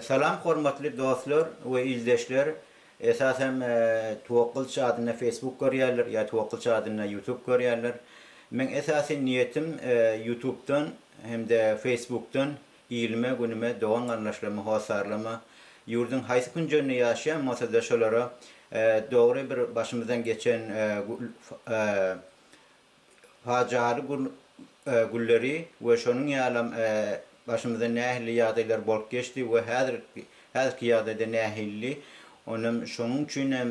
Salam hormatly dostlar we ildeşler esas hem Twokylç adynda Facebook görýärler ýa Twokylç adynda YouTube görýärler. Meň esasy niýetim YouTubedan hemde Facebookdan ilime günüme dogan garyndaşlaryma hossarlama ýurdyň haýsy künjeginde ýaşaýan bolsada şolara dogry bir başymyzdan geçen Pajaly gün gülleri we şonuň ýalam başymyzdan nähili ýagdaýlar bolup geçdi we häzir häzirki ýagdaýda nähilli onam şonuň üçin hem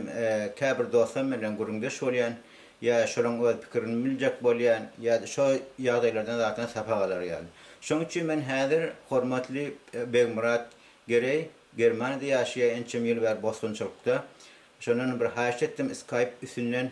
käbir dostam bilen gürrüňdeş bolýan ýa şolaň öz pikirini biljek bolýan ýa şo ýagdaýlardan zatdan sapak alar ýaly. Şoň üçin men häzir hormatly Begmyrat Gereý Germaniyada ýaşaýa ençem ýyl bäri bosgunçylykda şondan bir haýyş etdim skype üstünden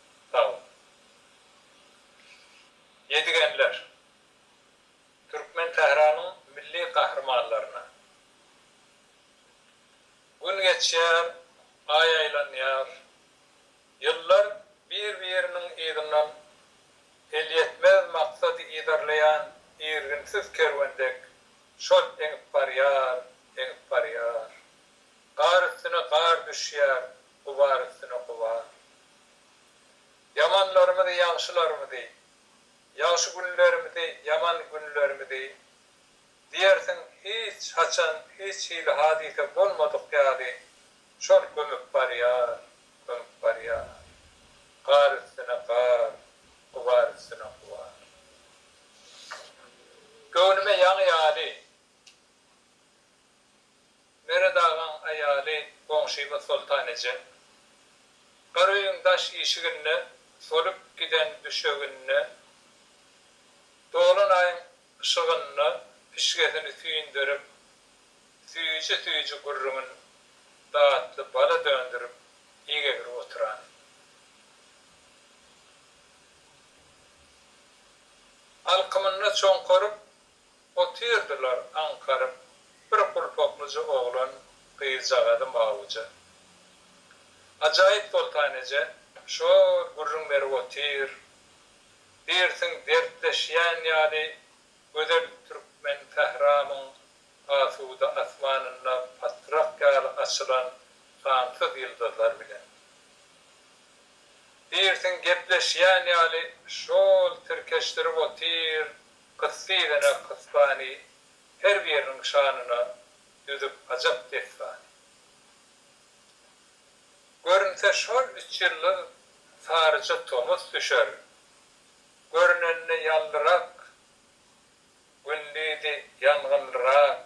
Sagbol. Ýedigenler. Türkmen Sähranyň milli gahrymanlaryna. Gün geçýär, Aý aýlanýar. Ýyllar bir-biriniň yzyndan elýetmez maksady yzarlaýan irginsiz kerwen dek şol eňip barýar, eňip barýar. Gar üstüne gar düşýär, Gubar üstüne gubar. Ýamanlarymyzy, ýagşylarymyzy, ýagşy günlerimizi, ýaman günlerimizi diýersiň hiç haçan hiç hili hadysa bolmadyk ýaly şol gömüp barýar, gömüp barýar. Gar üstüne gar, gubar üstüne gubar. Göwnüme ýaňy ýaly. Meret agaň aýaly goňşymyz Soltan eje. Gara öýüň daş işiginde solup giden düşeginde dolan aýyň yşygynda pişgesini süýndürip, süýji-süýji gürrüňin datly bala döndürip ýegewürip oturany. Alkymynda çoňkaryp, Otyrdylar aňkaryp bir gulpaklyja oglan gyzjagazy mawuja. Ajaýyp Soltan eje şol gürrüň berip otyr. Diýrsiň dertleşýän ýaly gözel türkmen sähramyň asuda asmanynda patrak ýaly açylan sansyz ýyldyzlar bilen. Diýrsiň gepleşýän ýaly şol tirkeşdirip otyr. Gysga egene kysbany, Her biriniň şanyna Düzüp ajap desbany. Görünse şol üç ýyllyk Saryja tomus düşer, Görünende ýallyrak, Gündüzi ýangynlyrak,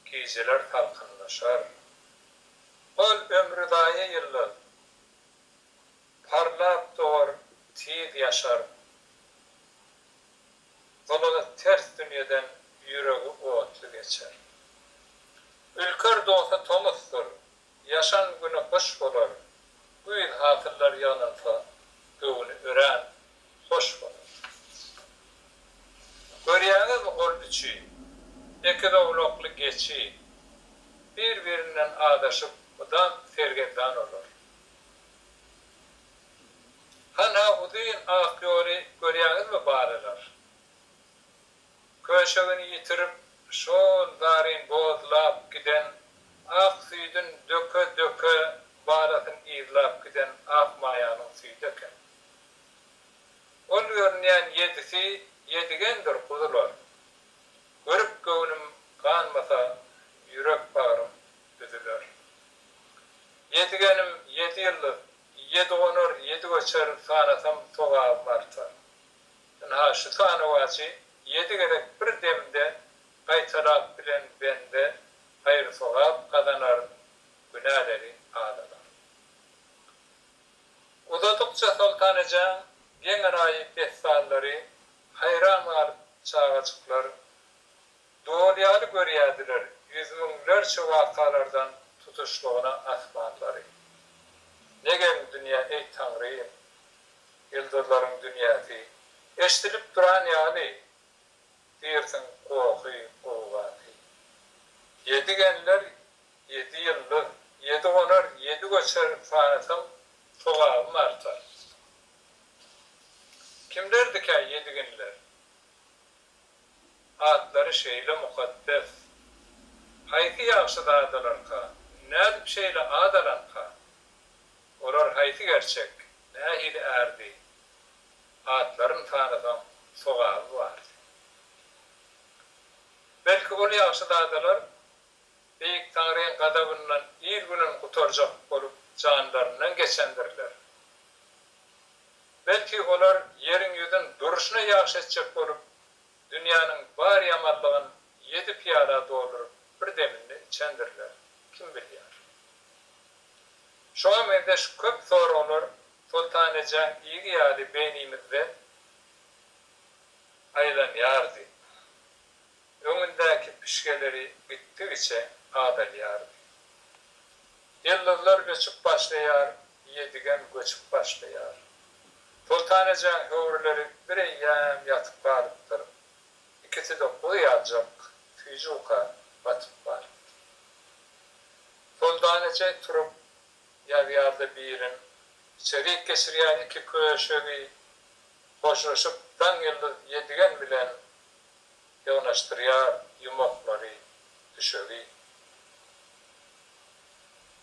Gijeler salkynlaşar. Ol ömri zaýa ýyllyk, Parlap dogar, tiz ýaşar. Gylygy ters dünýeden ýüregi otly geçer. Ülker dosy tomusdyr, ýaşan güni gyş bolar, güýz hasyllar ýygnansa, göwni örän hoş bolar. Görýäňizmi ol üçi, ekizowlakly geçi, bir-birinden azaşyp mydam sergezdan olar. Hanha uzyn ak ýoly görýäňizmi balalar? Köşegini ýitirip, şol zaryn bozlap giden, ak süýdün döke-döke balasyn yzlap giden ak maýanyň süýdi eken. Ol görünýän ýedisi ýedigendir guzular. Görüp göwnüm ganmasa ýürek-bagrym üzüler. Ýedigenim ýedi ýyldyz Ýedi gonar, ýedi göçer, sanasam sogabym artar. Ynha, şu sanawajy ýedi gezek bir demde gaýtalap bilen bende haýyr-sogap gazanar, günäleri azalar. Uzadykça Soltanyjaň geň-enaýy dessanlary haýran galyp çagajyklar Doly ýaly görýärdiler ýüz müňlerçe wakalardan tutuşlygyna asmanlary. Ne geň dünýä, eý, Taňrym! Ýyldyzlaryň dünýäsi. Eşdilip duran ýaly dirsiň gohy, gowgasy. Ýedi genler, ýedi ýyldyz, ýedi gonar, ýedi göçer sanasaň sogabym artar. Kimlerdikä ýedi genler? Atlary şeýle mukaddes. Haýsy ýagşyzadalarka, nädip şeýle at alanka? Olar haýsy gerçek, nähili ärdi? Atlaryn sanasaň, sogaby bardy. Belki, ol ýagşyzadalar Beýik Taňryň gazabyndan il-günün gutarjak bolup janlaryndan geçendirler? Belki olar ýeriň ýüzün durşuna ýagşy etjek bolup, dünýäniň bar ýamanlygyn ýedi pyýala dolduryp bir deminde içendirler, kim bilýär. Şuňa meňzeş köp soraglar Soltanejäň ýigi ýaly beýnimizde aýlanýardy. Öňündäki püşgeleri gitdigiçe azalýardy. Ýyldyzlar öçüp başlaýar, Ýedigen göçüp başlaýar. Soltanajaň höwrüleri bireýýäm ýatyp galypdyr. Ikisi-de guzy ýaljak süýji-uka batyp barypdy. Soltanajay turup ýazýar-da birin içerik geçirýär iki köşegi hoşlaşyp Daňýyldyz Ýedigen bilen ýygnaşdyrýar ýumaklary, düşegi.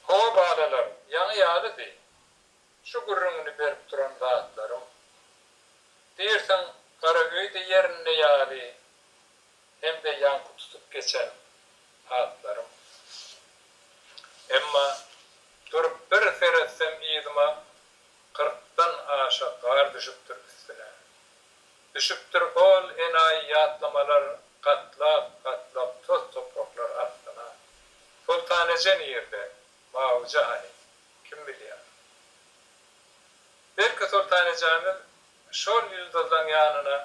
Hawa, balalar, ýaňy ýalydy şu gürrüňini berip duran zatlarym. Diýersiň, gara öýde ýerinde ýaly hem-de ýaňky tutup geçen atlarym. Emma durup bir seretsem yzyma kyrkdan aşa gar düşüpdir üstüne. Düşüpdir ol enaýy ýatlamalar gatlap, gatlap toz topraklar astyna. Soltanaja nirde, Mawuja hany, kim bilýär. Belki Soltanajamyz şol ýyldyzlaň ýanyna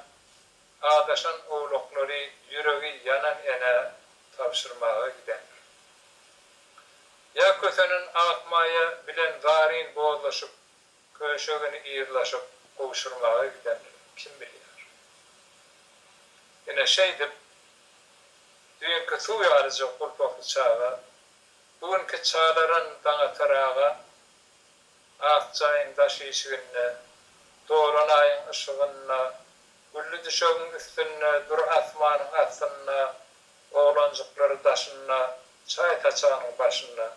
adaşan owlaklary ýüregi ýanan enä tabşyrmaga gidendir. Ýa kösenen Akmaýa bilen Zaryn bozlaşyp, Köşegini yzlaşyp gowşurmaga gidendigini kim bilýär. Ine, şeýdip, düýnki suw ýalyja gulpakly çaga, bu günki çalaran Daňatar aga ak jaýyň daş işiginde, doran aýyň yşygynda, gülli düşegiň üstünde, dür asmanyň astynda, oglanjyklary daşynda, çaý saçanyň başynda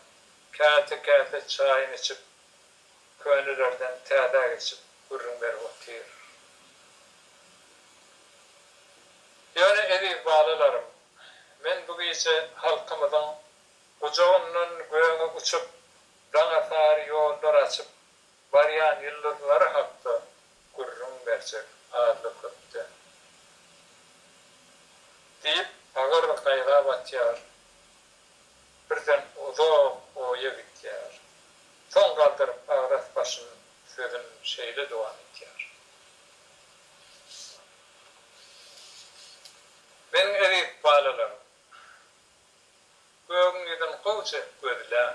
käse-käse çaýyny içip, Könelerden täzä geçip gürrüň berip otyr. Ýöne eziz balalarym, men bu gije halkymyzyň gujagyndan göge uçup, daňa sary ýollar açyp barýan ýyldyzlary hakda gürrüň berjek azly-köpde. Diýip, agyr gaýga batýar. Birden uzak oýa gidýär. Soň galdyryp agras başyn sözün şeýle dowam etýär. Meniň eziz balalarym! Gögüň ýüzün gowja gözläň.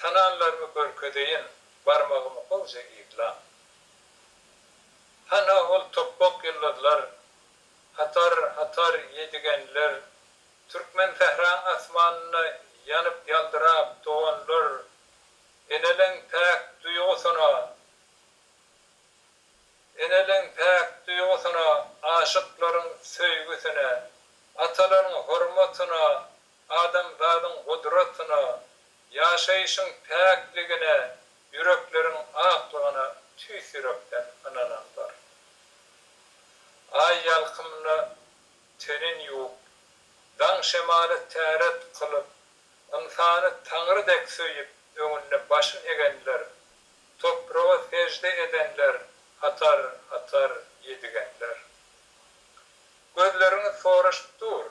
Tananlarymy görkezeýin, barmagymy gowja yzlaň. Hanha ol topbak ýyldyzlar, hatar-hatar ýedigenler Türkmen sähra asmanynda ýanyp-ýaldyrap doganlar, Eneleň päk duýgusyna, Eneleň päk duýgusyna, aşyklaryň söýgüsine, Atalaryň hormatyna, adamzadyň gudratyna, Ýaşaýşyň päkligine, ýürekleriň aklygyna tüýs ýürekden ynananlar. Aý ýalkymyna. Tenin ýuwup, daň şemaly täret kylyp, ynsany Taňry dek söýüp, öňünde başyn egenler, topraga sežde edenler atar, atar ýedigenler. Gözleriňiz soraşyp dur,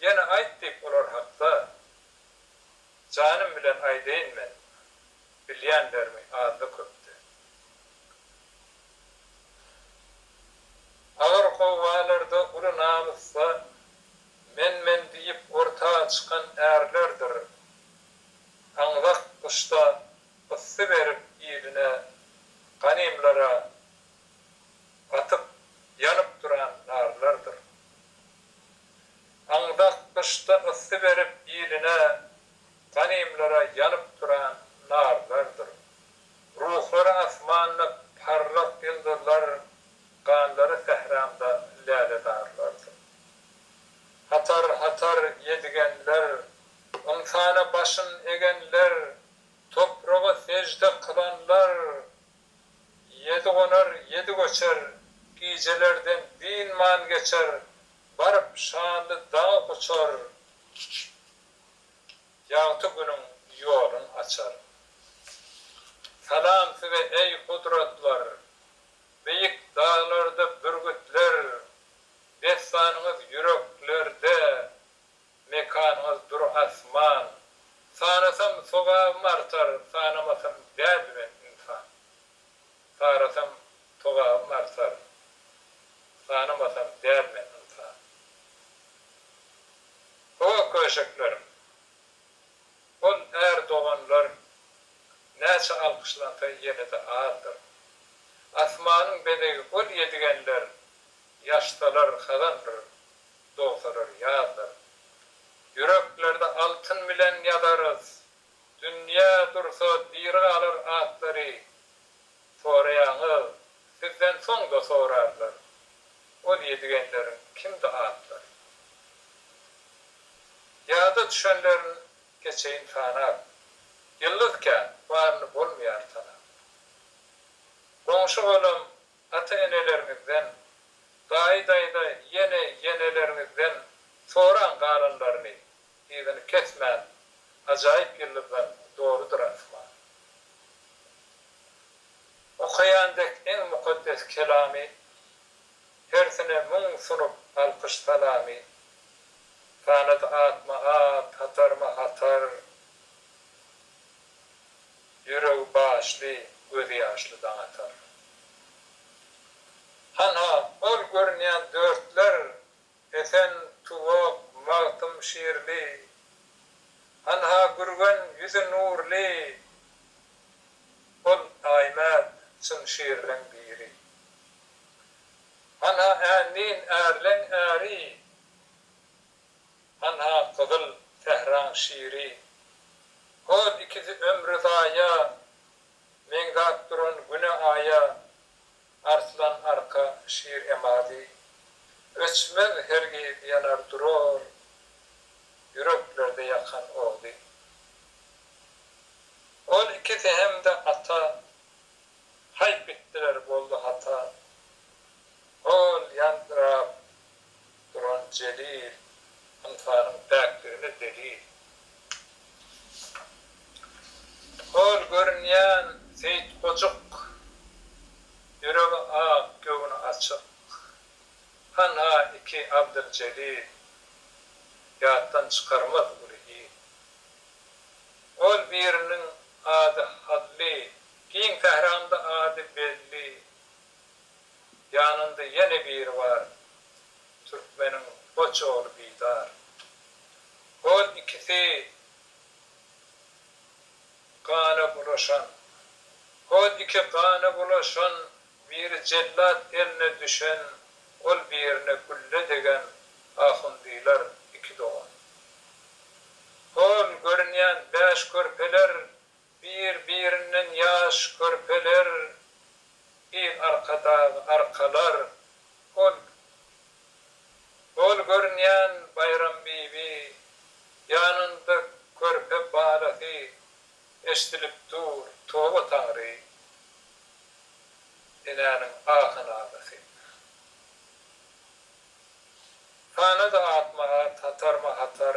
ýene aýt diýip olar hakda, janym bilen aýdaýyn men, bilýänlerimi azda-köpde. Agyr howalarda uly namysda men-men diýip orta çykan ärlerdir aňzak gyşda yssy berip iline, ganymlara gatyp ýanyp duran narlardyr. Aňzak gyşda yssy berip iline, ganymlara ýanyp duran narlardyr. Ruhlar asmanda parlak ýyldyzlar, Ganlary sähramda läledarlardyr. Hatar-hatar ýedigenler, ynsana başyn egenler, Topraga sežde kylanlar, Ýedi gonar, ýedi göçer, gijelerden dynman geçer, Baryp şanly dagy guçar. Ýagty günüň ýolun açar. Salam size eý gudratlar, Beýik daglarda bürgütler, Dessanyňyz ýüreklerde, Mekanyňyz dur asman. Sanasam sogabym artar, Sanamasam däl men ynsan. Tarasam togabym artar, sanamasam däl men ynsan. Toga köşeklerim, ol är doganlar näçe alkyşlansa ýene-de azdyr. Asmanyň bezegi ol ýedigenler, ýaşsalar hazandyr, dogsalar ýazdyr. Ýüreklerde altyn bilen ýazarys Dünýä dursa diri galar atlary soraýaňyz sizden soňda sorarlar ol ýedigenleriň kimdi atlary. Ýada düşenlerin geçeýin sanap. Ýyldyz kän baryny bolmaýar tanap. Goňşy golam ata eneleriňizden daýy daýza ýene ýeneleriňizden soraň galanlaryny Yzyny kesmän ajaýyp ýyldyzlar dolydyr asman. Okaýan dek iň mukaddes kelamy, Hersine müň sunup alkyş-salamy. Sanady atma-at, hatarma-hatar, Ýüregi başly, gözi ýaşly Daňatar. Hanha, ol görünýän dörtler Esen tuwak, Magtym şirli. Hanha Gürgen ýüzi nurly. Ol Aýmät çyn şirliň biri. Hanha Ändin ärleň äri. Hanha Gyzyl sähraň şiri. Hol ikisi ömri zaýa. Meňzäp duran güne-aýa. Arslan arka şir emady. Öçmez hergiz ýanar durar. Ýüreklerde ýakan ody. Ol ikisi hem-de ata. Haýp etdiler boldy hata. Hol ýaldyrap Duran Jelil, ynsanyň päkligine delil. Hol görünýän Seýit gojuk, ýüregi ak, göwni açyk. Hanha iki Abdyljelil, ýatdan çykarmaz uly il. Ol biriniň ady Hally, giň sähranyň-da ady belli. Ýanynda ýene biri bar, Türkmeniň goç ogly Bidar. Hol ikisi gana bulaşan. Hol iki gana bulaşan, Biri jellat eline düşen, Ol birine gülle degen Ahundylar iki dogan. Hol görünýän bäş körpeler, Bir-birinden ýaş körpeler, Bir arkadagy arkalar. Ol Gol görünýän Baýrambibi, Ýanynda körpe balasy, Eşdilip dur, toba Taňry, Enäniň ahy-nalasy. Tana-da atma at, Hatarma hatar,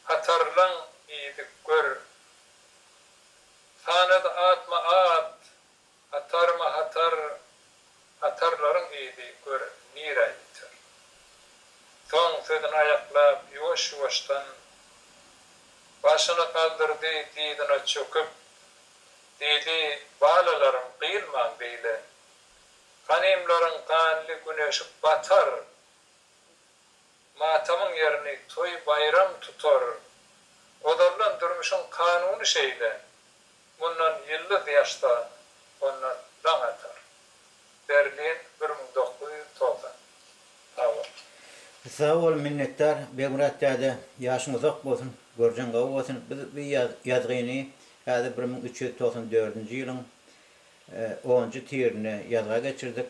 Hatarlaň diýdi gör. Sanady atma at, hatarma hatar, hatarlaryň yzy gör nirä ýeter. Soň sözüni aýaklap ýuwaş-ýuwaşdan başyny galdyrdy dyzyna çöküp, diýdi, Balalarym gyýylmaň beýle. Hanymlaryň ganly güneşi batar. Matamyň ýerini toý-baýram tutar. Godallaň durmuşyň kanuny şeýle, Mundan ýyldyz ýaşsa, ondan daň atar. Berlin, bir müň dokuz ýüz togsan. Sag bol. Sag bol minnetdar Begmyrat däde ýaşyň uzak bolsun görjeň gowy bolsun biz bu ýazgyny häzir bir müň üç ýüz togsan dördünji ýylyň onunjy tirinde ýazga geçirdik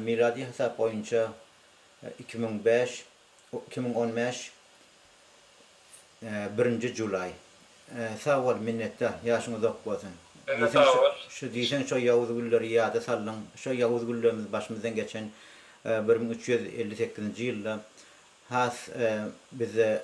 miladi hasap boýunça Iki müň bäş iki müň on bäş birinji julaý sag bol minnetdar ýaşyň uzak bolsun Size sag bol. Şu diýseň şo ýawuz gülleri ýada saldyň şo ýawuz güllerimiz başymyzdan geçen bir müň üç ýüz elli sekizinji ýylda has bizde